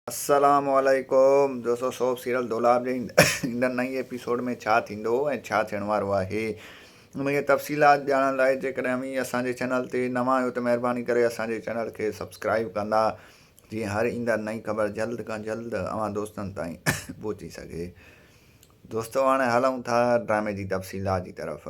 السلام عليڪم دوستو سوڀ سيريل دولاب جي ايندڙ نئين ايپيسوڊ ۾ ڇا ٿيندو ۽ ڇا ٿيڻ وارو آهي ان جي تفصيلات ڄاڻڻ لاء جيڪڏهن اوهين اسان جي چينل تي نوان آهيو ته مهرباني ڪري اسان جي چينل کي سبسڪرائيب ڪندا جيئن هر ايندڙ نئين خبر جلد کان جلد اوهان دوستن تائين پهچي سگهي دوستو هاڻي هلون ٿا ڊرامي جي تفصيلات جي طرف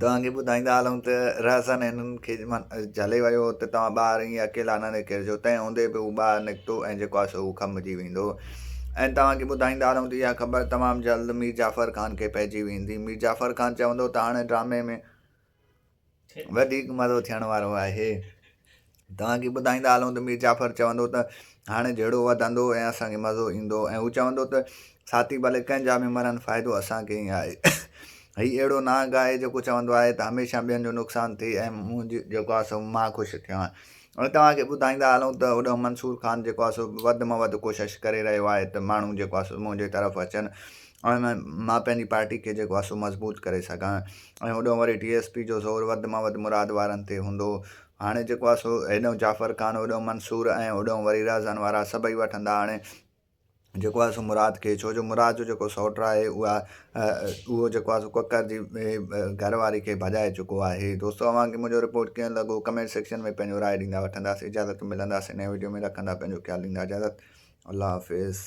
توهان کي ٻڌائيندا هلون ته رهزن هنن کي جهلي ويو هو ته توهان ٻاهر ائين اڪيلا نه نڪرجو، تنهن هوندي به هو ٻاهر نڪتو ۽ جيڪو آسو هو کنڀجي ويندو. ۽ توهان کي ٻڌائيندا هلون ته اها خبر تمام جلد مير جعفر خان کي پئجي ويندي. مير جعفر خان چوندو ته هاڻي ڊرامي ۾ وڌيڪ مزو ٿيڻ وارو آهي. توهان کي ٻڌائيندا هلون ته مير جعفر چوندو ته هاڻي جهيڙو وڌندو ۽ اسان کي مزو ايندو ۽ هو چوندو ته ساٿي ڀلي ڪنهن جا به مرن فائدو اسان کي ئي آهي هي اهڙو نانگ آهي جيڪو چوندو آهي ته هميشه ٻين جو نقصان ٿئي ۽ مون جيڪو آهي سو مان خوش ٿيان ۽ توهان کي ٻڌائيندا هلون ته هوڏانهن منصور خان جيڪو آهي سو وڌ مان وڌ ڪوشش ڪري رهيو آهي ته ماڻهو جيڪو آهي سو منهنجي طرف اچن ۽ مان پنهنجي پارٽي کي جيڪو آهي سو مضبوط ڪري سگهان ۽ هوڏانهن وري ڊي ايس پي جو زور وڌ مان وڌ مراد وارن تي هوندو هاڻي جيڪو آهي سو هيڏهون جعفر خان، هوڏهون منصور ۽ هوڏهون وري رهزان وارا سڀئي وٺندا. هاڻي جيڪو آهي سو مراد کي، ڇو جو مراد جو جيڪو سئوٽ آهي اها اهو جيڪو آهي سو ڪڪر جي گهر واري کي ڀڄائي چڪو آهي. دوستو اوهان کي منهنجو رپورٽ ڪيئن لڳو ڪمينٽ سيڪشن ۾ پنهنجو راء ڏيندا وٺنداسين اجازت ملنداسين نئين وڊيو ۾ رکندا پنهنجو خيال ڏيندا اجازت الله حافظ.